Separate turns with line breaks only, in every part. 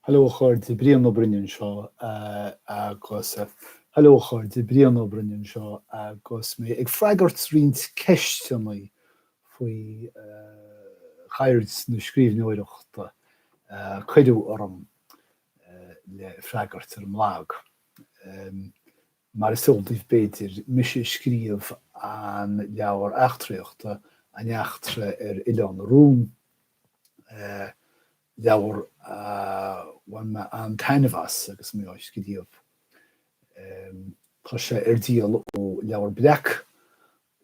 Hello a chairde, Brian Ó Broin anseo agus Hello a chairde, Brian Ó Broin anseo agus mé ag freagairt roinnt ceisteanna faoi cheird na scríbhneoireachta a cuireadh orm le freagairt ar an mblag. Mar is eol daoibh b'fhéidir, mise a scríobh an leabhar eachtraíochta, An Eachtra ar Oileán na Rún. leabhar a bhain mé an-taitneamh as agus mé á scríobh. Tá sé ar díol ó Leabhar Breac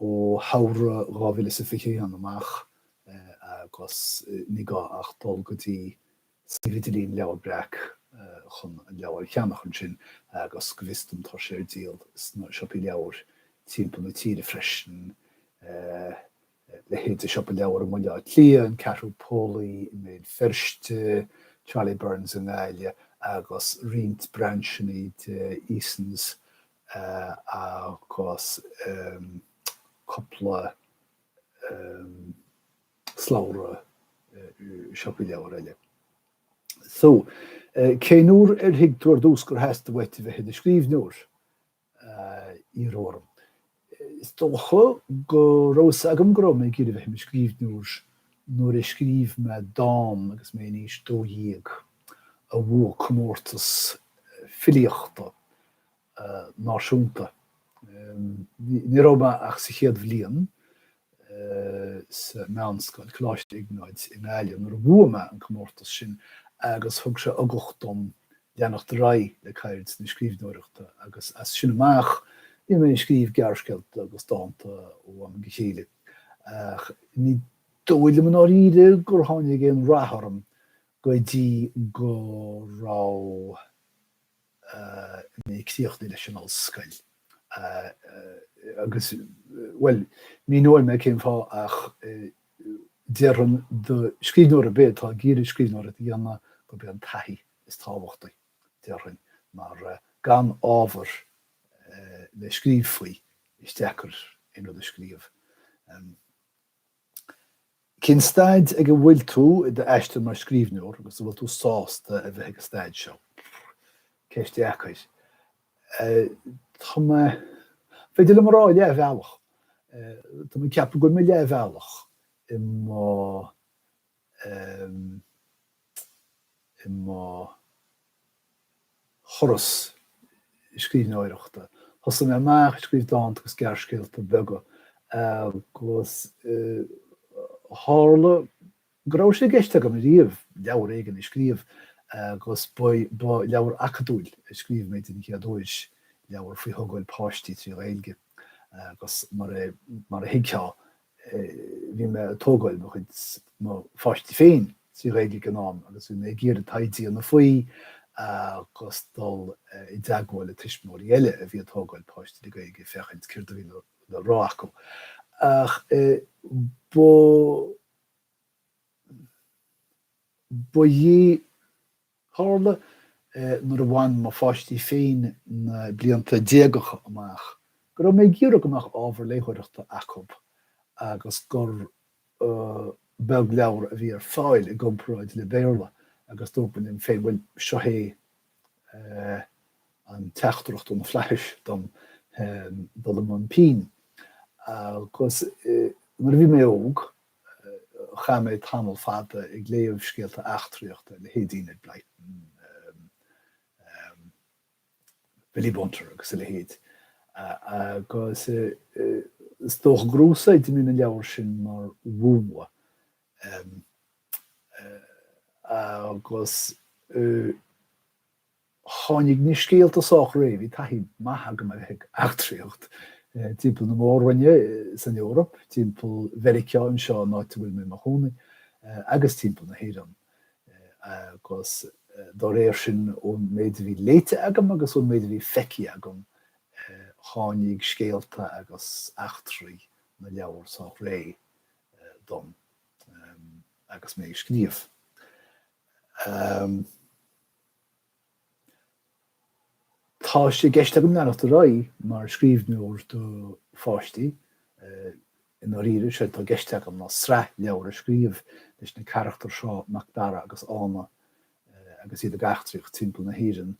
ó shamhradh 2021 amach agus ní gá ach dul go dtí suíomh idirlín Leabhar Breac chun an leabhar a cheannach ansin agus go bhfios dom tá sé ar díol sna siopaí leabhar timpeall na tíre freisin. leithéid de Siopa Leabhar i mBaile Átha Cliath, An Ceathrú Póilí i mBéal Feirste, Charlie Byrne's i nGaillimh agus roinnt brainseannaí de Easons agus cúpla slabhra siopaí leabhar eile. So, cén uair ar thuig tú ar dtús gur theastaigh uait a bheith i do scríbhneoir? iarradh orm. Is dócha go raibh a fhios agam go raibh mé ag iarraidh a bheith i mo scríbhneoir nuair a scríobh mé dán agus mé in aois dó dhéag a bhuaigh comórtas filíochta náisiúnta. Ní raibh mé ach sa chéad bhliain sa mheánscoil, Coláiste Iognáid i nGaillimh, nuair a bhuaigh mé an comórtas sin agus thug sé ugach dom leanacht ar aghaidh le ceird na scríbhneoireachta agus as sin amach bhínn ag scríobh gearrscéalta agus dánta ó am go chéile ach ní dóigh liom i ndáiríre gur tháinig aon rath orm go dtí go raibh mé ag críochnú leis an ollscoil agus, bhuel, míneoidh mé cén fáth ach déarfainn do scríbhneoir ar bith atá ag iarraidh scríbhneoireacht a dhéanamh gurb é an taithí is tábhachtaí, déarfainn, mar gan ábhar le scríobh faoi, is deacair aon rud a scríobh. Cén staid ag a bhfuil tú i d'aistear mar scríbhneoir agus an bhfuil tú sásta a bheith ag an staid seo? Ceist dheacair. Tá mé, is féidir liom a rá, leathbhealach. Tá mé ag ceapadh go bhfuil mé leathbhealach i mo i mo thuras scríbhneoireachta. Thosaigh mé amach ag scríobh dánta agus gearrscéalta beaga agus tharla go raibh sé i gceist agam riamh leabhar éigin a scríobh agus ba leabhar acadúil a scríobh mé den chéad uair, leabhar faoi thógáil páistí trí Ghaeilge agus mar a thuigfeá bhí mé ag tógáil mo chuid mo pháistí féin trí Ghaeilge ag an am agus bhí mé ag iarraidh taighde a dhéanamh faoi agus dul i dteagmháil le tuismitheoirí eile a bhí ag tógáil páistí le Gaeilge féachaint céard a bhí le rá acu. Ach ba. ba é. Tharla nuair a bhain mo pháistí féin na blianta déagacha amach go raibh mé ag iarraidh go mbeadh ábhar léitheoireachta acu agus gur beag leabhar a bhí ar fáil i gcomparáid le Béarla agus dúirt mé liom féin, bhuel, seo é an teachtaireacht ó na flaithis dom dul i mbun pinn agus nuair a bhí mé óg, Chaith mé tamall fada ag léamh scéalta eachtraíochta, leithéidí Enid Blyton, Billy Bunter agus a leithéid, agus is dócha gur úsáid mé na leabhair sin mar mhúnla, agus. Tháinig na scéalta sách réidh, bhí taithí maith agam a bheith ag eachtraíocht timpeall na Mór-Roinne san Eoraip, timpeall Mheiriceá anseo an áit a bhfuil mé i mo chónaí, agus timpeall na hÉireann, agus dá réir sin, ón méid a bhí léite agam agus ón méid a bhí feicthe agam, tháinig scéalta agus eachtraí na leabhar sách réidh dom agus mé ag scríobh. Tá sé i gceist agam leanacht ar aghaidh mar scríbhneoir do pháistí, i ndáiríre, séard atá i gceist agam ná sraith leabhar a scríobh leis na carachtair seo, Macdara agus Ána, agus iad ag eachtraíocht timpeall na hÉireann.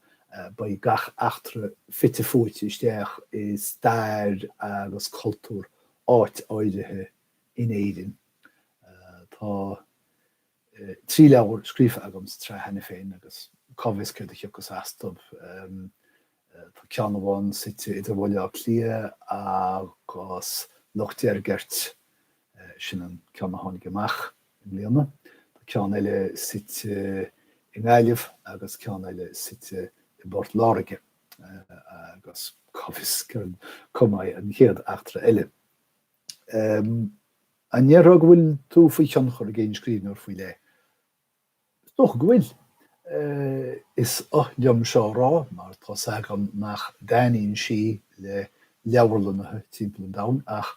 Beidh gach eachtra fite fuaite isteach i stair agus cultúr áit áirithe in Éirinn. Tá. trí leabhar scríofa agam sa tsraith cheana féin agus cá bhfios céard a thiocfas astu. Tá ceann amháin suite idir Bhaile Átha Cliath agus Loch Deirgeirt, sin an ceann a tháinig amach i mbliana, tá ceann eile suite i nGaillimh agus ceann eile suite i bPort Láirge agus cá bhfios cá mbeidh an chéad eachtra eile. An ndéarfá go bhfuil tú faoi thionchar ag aon scríbhneoir faoi leith? Is dócha go bhfuil. Is oth liom seo a rá mar tá 's agam nach dtaitníonn sí le leabharlannaithe timpeall an domhain ach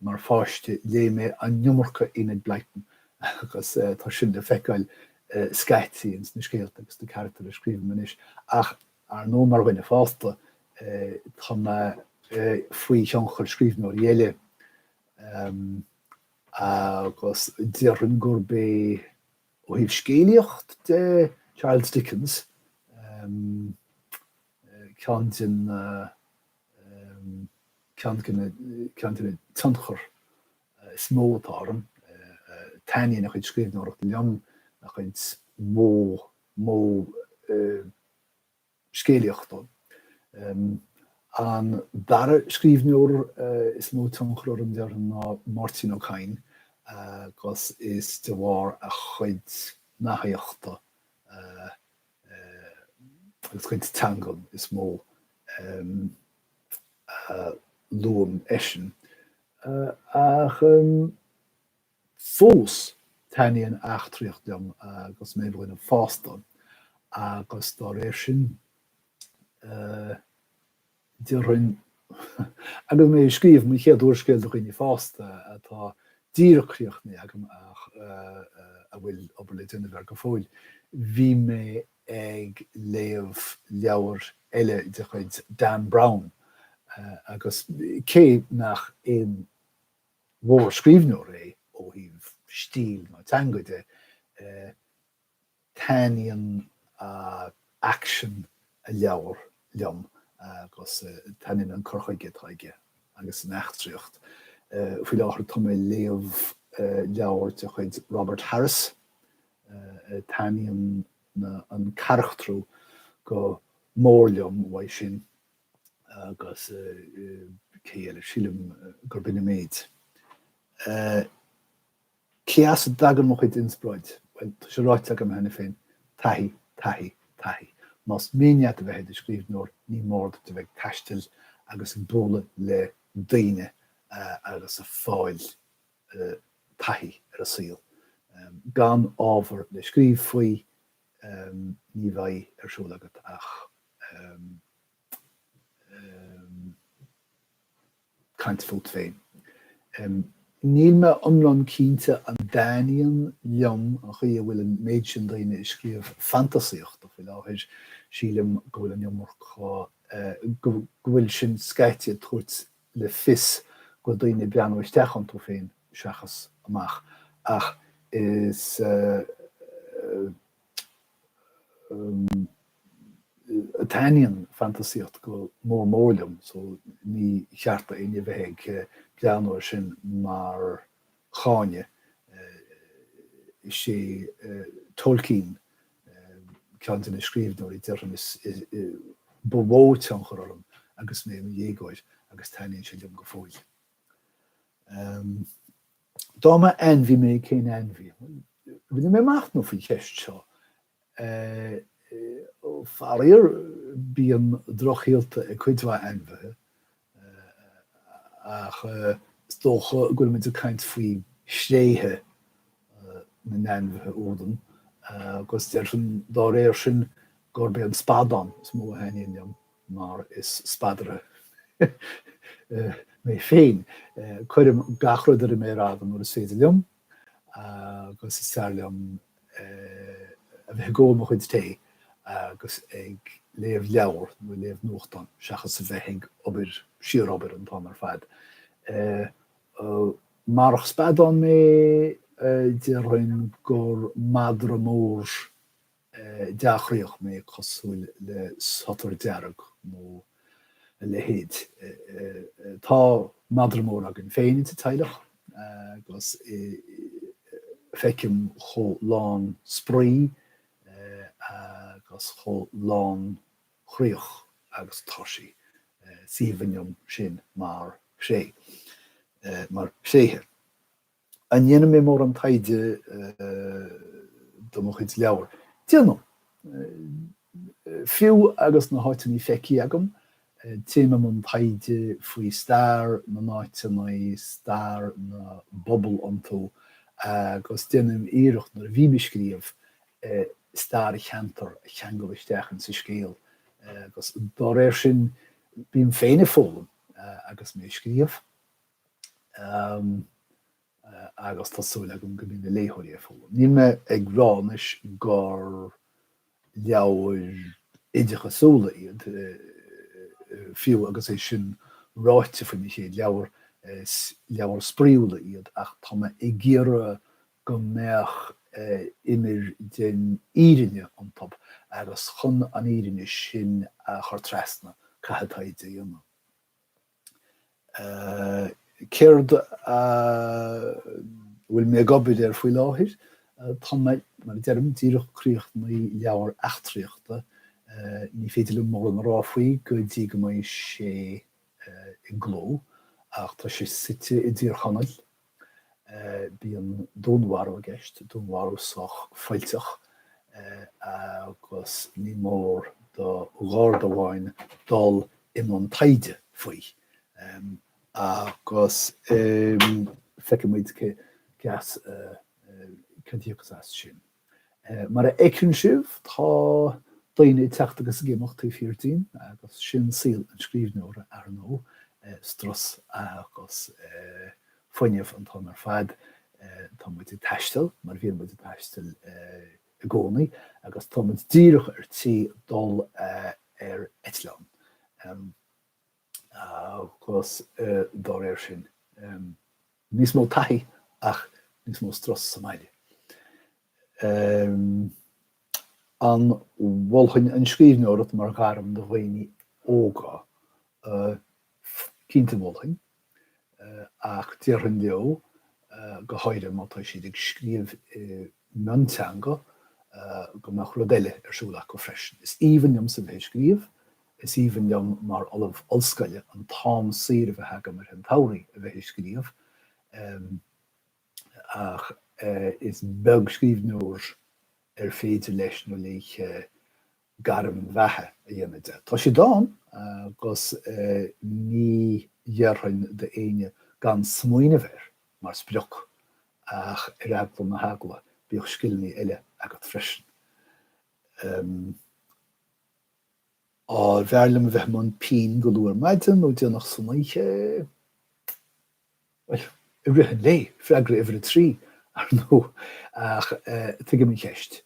mar pháiste léigh mé an iomarca Enid Blyton agus tá sin le feiceáil scaití ins na scéalta agus na carachtair a scríobhaim anois ach Ar ndóigh, mar dhuine fásta, tá mé faoi thionchar scríbhneoirí eile agus déarfainn gurb é, ó thaobh scéalaíocht de, Charles Dickens ceann de na, ceann de na, ceann de na tionchair is mó atá orm. Taitníonn a chuid scríbhneoireachta liom, a chuid mo modh scéalaíochta. An dara scríbhneoir is mó tionchar orm, déarfainn, ná Máirtín Ó Cadhain agus is de bharr a chuid nathaíochta agus a chuid teangan is mó a luaim eisean. Ach. Fós, taitníonn eachtraíocht liom agus mé i mo dhuine fásta agus dá réir sin, déarfainn, agus mé ag scríobh mo chéad úrscéil do dhaoine fásta, atá díreach críochnaithe agam ach a bhfuil obair le déanamh air go fóill, bhí mé ag léamh leabhar eile de chuid Dan Brown agus cé nach aon. mhórscríbhneoir é ó thaobh stíl nó teanga de, taitníonn aicsean a leabhar liom agus taitníonn an cur chuige atá aige agus an eachtraíocht. Faoi láthair tá mé ag léamh leabhar de chuid Robert Harris, taitníonn an carachtrú go mór liom uaidh sin. Agus cé eile? Sílim gurb in an méid. Cé as a dtagann mo chuid inspioráid? Bhuel, tá sé ráite agam cheana féin, taithí, taithí, taithí. Más mian leat a bheith i do scríbhneoir ní mór duit a bheith ag taisteal agus ag bualadh le daoine agus ag fáil taithí ar an saol. Gan ábhar le scríobh faoi, ní bheidh ar siúl agat ach caint fút féin. Níl mé iomlán cinnte an dtaitníonn liom an chaoi a bhfuil an méid sin daoine ag scríobh fantasaíochta faoi láthair, sílim go bhfuil an iomarca, go bhfuil sin scaití ag tabhairt le fios go bhfuil daoine ag breathnú isteach iontu féin seachas amach, ach taitníonn fantasaíocht go mór mór liom so ní ceart do éinne bheith ag breathnú ar sin mar cháineadh. Is é Tolkien ceann de na scríbhneoirí, déarfainn, ba mhó tionchar orm agus mé i mo dhéagóir agus taitníonn sé liom go fóill. Dá mb'ainmhí mé, cén ainmhí? Rinne mé machnamh faoin gceist seo Faraor, bíonn drochshaolta ag cuid mhaith ainmhithe, ach is dócha go bhfuil muid ag caint faoi thréithe na n-ainmhithe úd, agus déarfainn dá réir sin gurb é an spadán is mó a thaitníonn liom, mar is spadaire mé féin, cuirim gach rud ar an mhéar fhada nuair is féidir liom, agus is fearr liom a bheith ag ól mo chuid tae agus ag léamh leabhar nó ag léamh nuachtán seachas a bheith ag obair, síor-obair an t-am ar fad. Murach spadán mé, déarfainn gur madra mór dea-chroíoch mé cosúil le sotar dearg nó a leithéid. Tá madra mór againn féin sa teaghlach agus feicim chomh lán spraoi agus chomh lánchroíoch agus atá sí. Is aoibhinn liom sin mar thréith, mar thréithe. An ndéanann mé mórán taighde do mo chuid leabhar? Déanaim. Fiú agus na háiteanna feicthe agam, téim i mbun taighde faoi stair na n-áiteanna, stair na bpobal iontu agus déanaim iarracht, nuair a bhím ag scríobh, stair an cheantair a cheangal isteach insa scéal agus dá réir sin bím féin ag foghlaim agus mé ag scríobh. agus tá súil agam go mbeidh na léitheoirí ag foghlaim. Níl mé ag rá anois gur leabhair oideachasúla iad, fiú agus é sin ráite faoi mo chéad leabhar, is leabhair spraíúla iad, ach tá mé ag iarraidh go mbeadh imir den fhírinne iontu agus chun an fhírinne sin a chur trasna, caithfidh taighde a dhéanamh. Céard a bhfuil mé ag obair ar faoi láthair? Tá mé, mar a deirim, díreach ag críochnú leabhar eachtraíochta. Ní féidir liom mórán a rá faoi go dtí go mbeidh sé i gcló, ach tá sé suite i dTír Chonaill, Bíonn dúnmharú i gceist, dúnmharú sách fuilteach, agus ní mór do Gharda amháin dul i mbun taighde faoi. Agus feicfidh muid céard a thiocfas as sin. Mar a fheiceann sibh, tá daoine ag teacht agus ag imeacht taobh thiar dínn, agus sin saol an scríbhneora, ar ndóigh, strus agus fuinneamh an t-am ar fad. Tá muid ag taisteal, mar bhíonn muid ag taisteal i gcónaí, agus tá muid díreach ar tí dul ar eitleán. agus dá réir sin, níos mó taithí ach níos mó strus sa mbaile. An mholfainn an scríbhneoireacht mar ghairm do dhaoine óga? Cinnte mholfainn, ach déarfainn leo, go háirithe má tá siad ag scríobh i mionteanga, go mbeadh rud eile ar siúl acu freisin. Is aoibhinn liomsa bheith ag scríobh. Is aoibhinn liom mar ollamh ollscoile an t-am saor a bheith agam i rith an tsamhraidh a bheith ag scríobh, ach is beag scríbhneoir ar féidir leis nó léi gairm bheatha a dhéanamh de. Tá siad ann, agus ní dhéarfainn d'éinne gan smaoineamh air mar sprioc, ach ar eagla na heagla, bíodh scileanna eile agat freisin. An mb'fhearr liom a bheith i mbun pinn go luath ar maidin nó déanach san oíche. Bhuel, i rith an lae, freagra uimhir a trí, ar ndóigh, ach tuigim an cheist.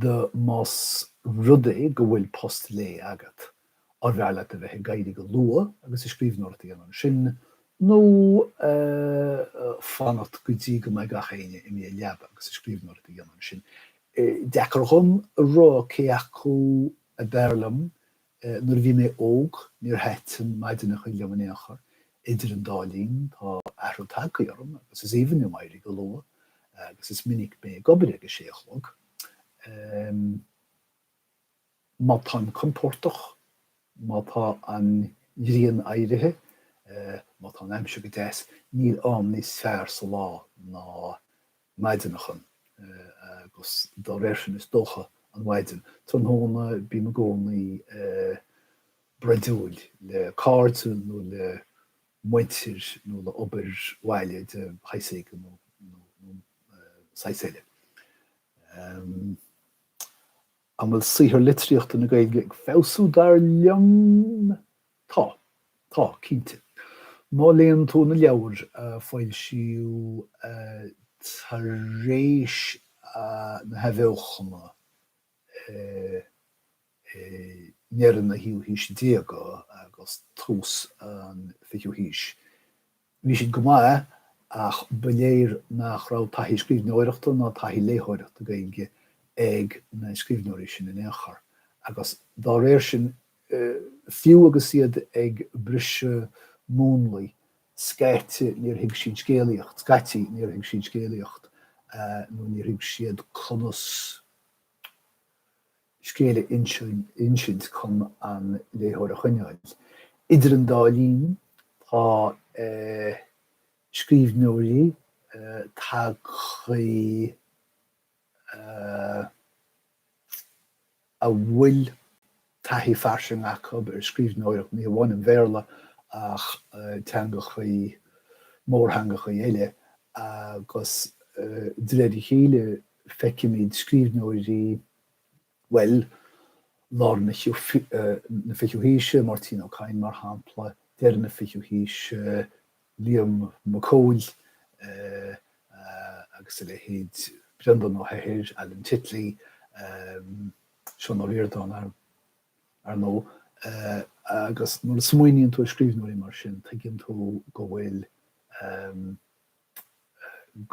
The más rud é go bhfuil post lae agat, an mb'fhearr leat a bheith ag éirí go luath agus an scríbhneoireacht a dhéanamh ansin, nó fanacht go dtí go mbeidh gach éinne ina leaba agus an scríbhneoireacht a dhéanamh ansin? Is deacair dhom a rá cé acu ab fhearr liom, nuair a bhí mé óg níor thaitin maidineacha liom in aon chor. Idir an dá linn tá athrú tagtha orm agus is aoibhinn liom éirí go luath agus is minic mé ag obair ag a sé a chlog. Má tá sé compordach, má tá an ghrian éirithe, má tá an aimsir go deas, níl am níos fearr sa lá ná maidin a chaitheamh, agus dá réir sin is dócha an mhaidin. Tráthnóna bím i gcónaí broidiúil le cairde nó le muintir nó le obair bhaile de shaghas éigin nó saghas eile. An bhfuil saothar litríochta na Gaeilge ag feabhsú dar liom? Tá. Tá, cinnte. Má léann tú na leabhair a foilsíodh tar éis na hathbheochana i ndeireadh na naoú haoise déag agus tús an fichiú haois, Bhí siad go maith ach ba léir nach raibh taithí scríbhneoireachta ná taithí léitheoireachta Gaeilge ag na scríbhneoirí sin in aon chor agus dá réir sin, fiú agus iad ag briseadh múnlaí, scaití níor thuig siad scéalaíocht, scaití níor thuig siad scéalaíocht nó níor thuig siad conas. scéal a insint chun an léitheoir a choinneáil. Idir an dá linn, tá scríbhneoirí tagtha a bhfuil taithí fairsing acu ar scríbhneoireacht, ní hamháin an Bhéarla ach teangacha, mórtheangacha eile, agus de réir a chéile feicimid scríbhneoirí bhuel, lár na fichiú haoise, Máirtín Ó Cadhain, mar shampla, deireadh na fichiú haoise, Liam Mac Cóil agus a leithéid, Breandán Ó hEithir, Alan Titley, Seán Ó Ríordáin, ar ndóigh. Agus nuair a smaoiníonn tú ar scríbhneoirí mar sin, tuigeann tú go bhfuil.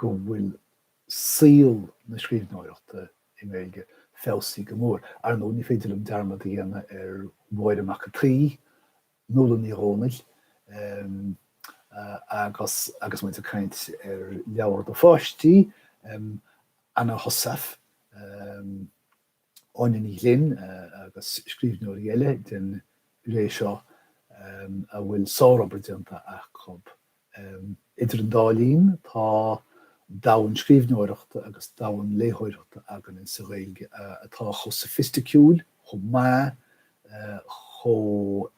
go bhfuil saol na scríbhneoireachta i nGaeilge feabhsaithe go mór. Ar ndóigh, ní féidir liom dearmad a dhéanamh ar Mháire Mhac an tSaoi, Nuala Ní Dhomhnaill, agus agus muid ag caint ar leabhair do pháistí, Anna Heussaff, Áine Ní Ghlinn agus scríbhneoirí eile den ré seo a bhfuil sárobair déanta acu. Idir an dá linn, tá domhan scríbhneoireachta agus domhan léitheoireachta againne sa Ghaeilge atá chomh soifisticiúil, chomh maith, chomh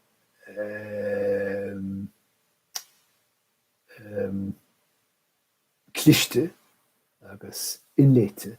cliste agus inléite